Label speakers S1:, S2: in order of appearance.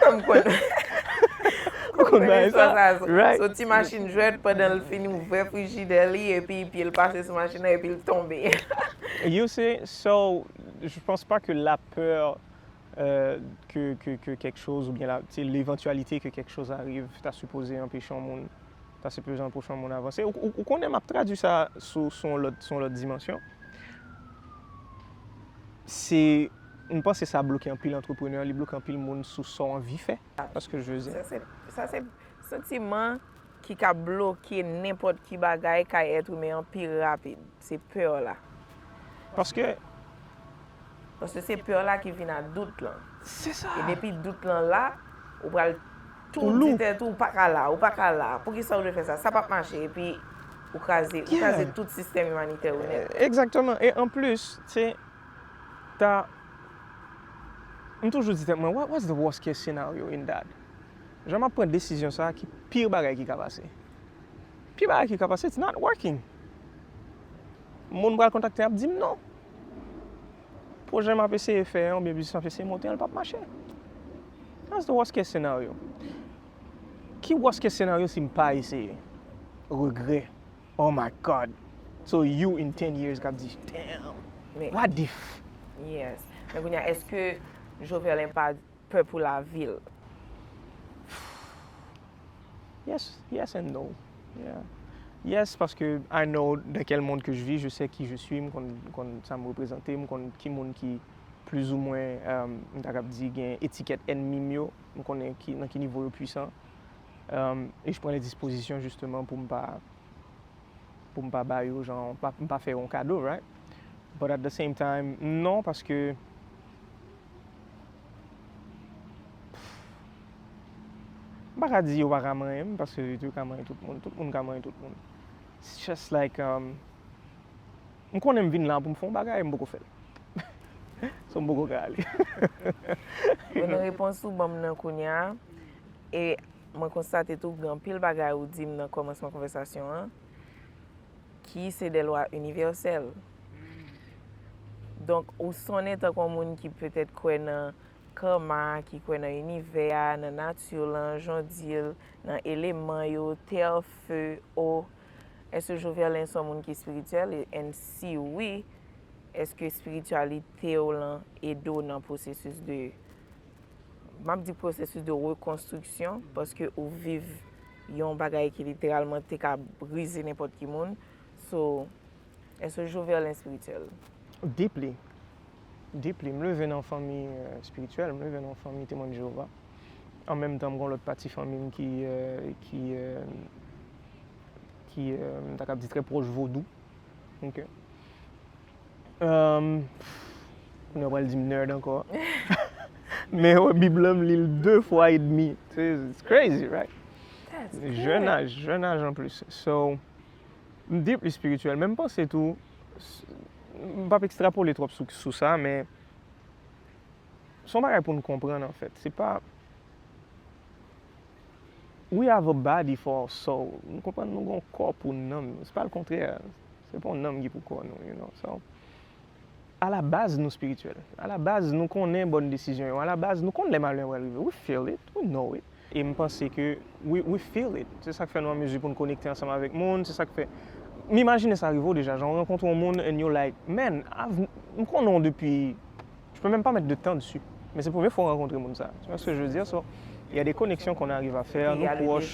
S1: M konn. M konn bay sa. Son ti machin
S2: jwèt
S1: pandan l fin ouvè frijidè li epi pye l pase sou machin nan epi l tonbe. You
S2: see, so je pense pas que la peur que quelque chose ou bien la, tu sais, l'éventualité que quelque chose arrive ta sipoze anpeche yon moun. Ta siplijan pou chan moun avanse. Ou konnen map tradwi sa sou yon lòt dimansyon. Se, m panse sa bloke anpil antreprenè, li bloke anpil moun sou sa w anvi fè. Paske je ze. Sa se
S1: santiman ki ka bloke nenpòt ki bagay kay èt imen an pi rapid. Se peur la. Paske. Paske se peur la ki vin a dout lan. Se sa. E depi
S2: dout lan la,
S1: ou pral tou di tèt ou, ou pa ka la, ou pa ka la. Pou ki sa ou dwe fè sa? Sa pap mache. E pi ou kraze, ou kraze tout sistèm imanitè ou nèt. Ekzakteman. E an
S2: plis, se ta. M toujou di tèt mwen, what was the worst case scenario in that? Jan map pran desizyon sa, ki pire bagay ki ka pase? Ki bagay ki ka pase it's not working moun pral kontakte ap dim non projè map eseye fè an oubyen biznis map eseye monte an li pap mache that's the worst case scenario ki worst case scenario sim pa eseye regrè oh my God so you in 10 years kap di damn what if yes
S1: men kounya eske Joverlin pa pè pou lavi l.
S2: Yes, yes and no. Yeah. Yes, paske I know dans quel monde que je vis, je sais qui je suis, m konn, m konn sa m reprezante, m konn ki moun ki plis ou mwen, um, m ta kab di gen etikèt ènmi m yo, m konnen ki, nan ki nivo yo pwisan. Um, e je pran les dispositions justement pou m pa, pou m pa ba yo jan, m pa fè yo yon kado, right? But at the same time, non, paske. M pa ka di yo pa ka manyen m paske yo ka manyen tout moun. Tout moun ka manyen tout moun. It's just like, um, m konnen m vin la pou m fè yon bagay e m poko fè l. So m poko ka ale.
S1: Bon repons ou ban m nan kounye a. E mwen konstate tou gen anpil bagay ou di m nan kòmansman konvèsasyon an. Ki se de lwa inivèsèl. Donk, ou sonnen tankou yon moun ki petèt kwè nan Karma, ki kwè nan inivè a, nan nati lan, jan w di l, nan eleman yo, tè, fe, o. Èske Joverlin se yon moun ki espirityèl? And si wi, èske espirityalite w lan ede w nan pwosesis de, m ap di pwosesis de rekonstriksyon, paske ou viv. Yon bagay ki literalman te ka brize nenpòt ki moun. So, èske Joverlin espirityèl? Deeply.
S2: Deeply. M leve nan fanmi espirityèl. M leve nan fanmi Temwen Jewova. An menm tan, m gen yon lòt pati fanmi m ki, ki, ki, m ta kab di trè pwòch vodou. Ok. Kounye a w pral di m nerd ankò. Men wè bib lan m li l 2 fwa e demi. It's crazy right? Jèn aj, jèn aj anplis. So, m deeply spirituel men m panse tou, m pap ekstrapole twòp sou sa men s on bagay pou n konprann anfèt. Se pa, we have a body for our soul. Nou konprann nou gen yon kò pou nanm nou. Se pa l kontrè. Se pa yon nanm ki pou kò nou, you know. So, a la baz nou spirityèl. A la baz nou konnen bòn desizyon yo. A la baz nou konn lè malè a pral rive. We feel it, we know it. E m panse ke we, we feel it. Se sa k fè nou an mezi pou n konekte ansanm avèk moun. Se sa k fè, m imajine sa rive w deja, jan w rankontre yon moun and you're like, man, I've, m konnen w depi, je peux même pas mettre de temps dessus. Men se premye fwa w rankontre moun sa a. Tu vois ce que je veux dire? So, il y a des connexions qu'on arrive à faire, nou pwòch.